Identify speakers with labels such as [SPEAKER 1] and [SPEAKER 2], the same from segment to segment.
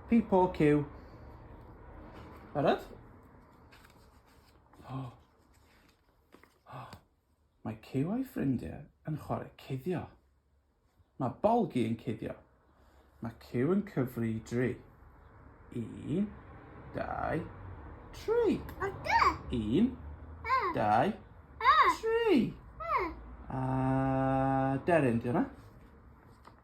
[SPEAKER 1] People queue. Barod? Oh. Oh. Mae Cyw a'i ffrindiau yn chwarae cuddio. Mae Bolgi yn cuddio. Mae Cyw yn cyfri i dri. Un, dau, tri. Un, dau, tri. A deryn, di hwnna?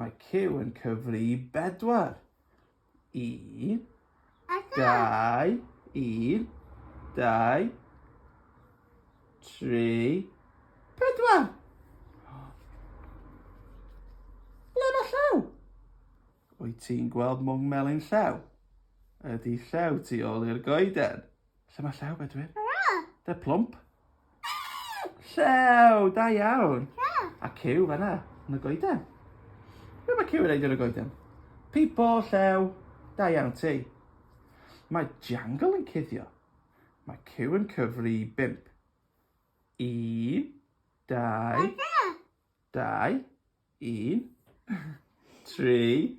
[SPEAKER 1] Mae Q yn cyfri i bedwar. I. Dau. Un. Dau. Tri. Pedwar. Ble mae llaw? Wyt ti'n gweld mwng melyn llaw? Ydy llaw tu ôl i'r goeden? Lle mae Llew, Bedwyr? They're plump. Llew, da iawn. A Cyw fanna, yn y goeden. Be mae Cyw yn ei yn y goeden? Pipo, Llew, da iawn ti. Mae Jangle yn cuddio. Mae Cyw yn cyfri i bimp. Un, dau, dau, 1, 3,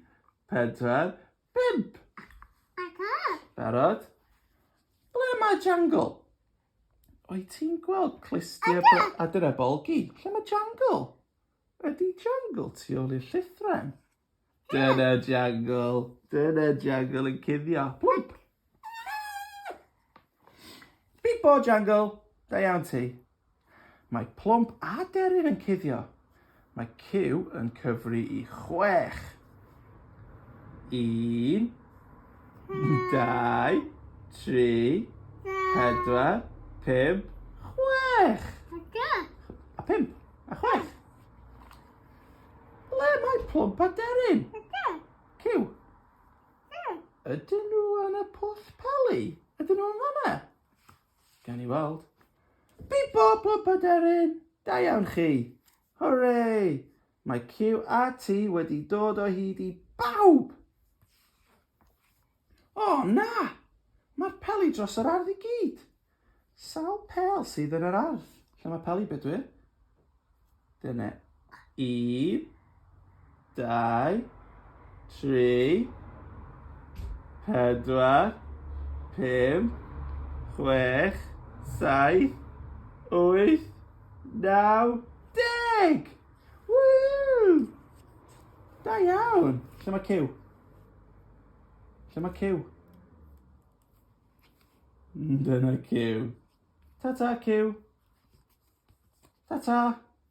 [SPEAKER 1] 4, 5. Barod? Ble mae Jangle? O'i ti'n gweld clustiau a dyna bolgi? Lle mae Jangle? Ydy Jangle tu ôl i'r llithren? Dyna Jangle. Dyna Jangle yn cuddio. Plwmp. Pipo Jungle, da iawn ti. Mae Plwmp a Deryn yn cuddio. Mae Cyw yn cyfri i chwech. Un, dau, tri, pedwar, pum, chwech. A pump, a chwech. Ble mae Plwmp a Deryn? Cyw. Ie. Ydyn nhw yn y pwll peli? Ydyn nhw yn fan 'na? Gawn ni weld. Bîp bop bop aderyn! Da iawn chi! Hwre! Mae QAT wedi dod o hyd i bawb! O na! Mae'r peli dros yr ardd i gyd! Sawl pêl sydd yn yr ardd? Lle mae peli Bedwyr? Dyna un, dau, tri, pedwar, pum, chwech, saith, wyth, naw, deg! Woo! Da iawn! Lle mae Cyw? Lle mae Cyw? Dyna Cyw. Ta ta Cyw. Ta ta.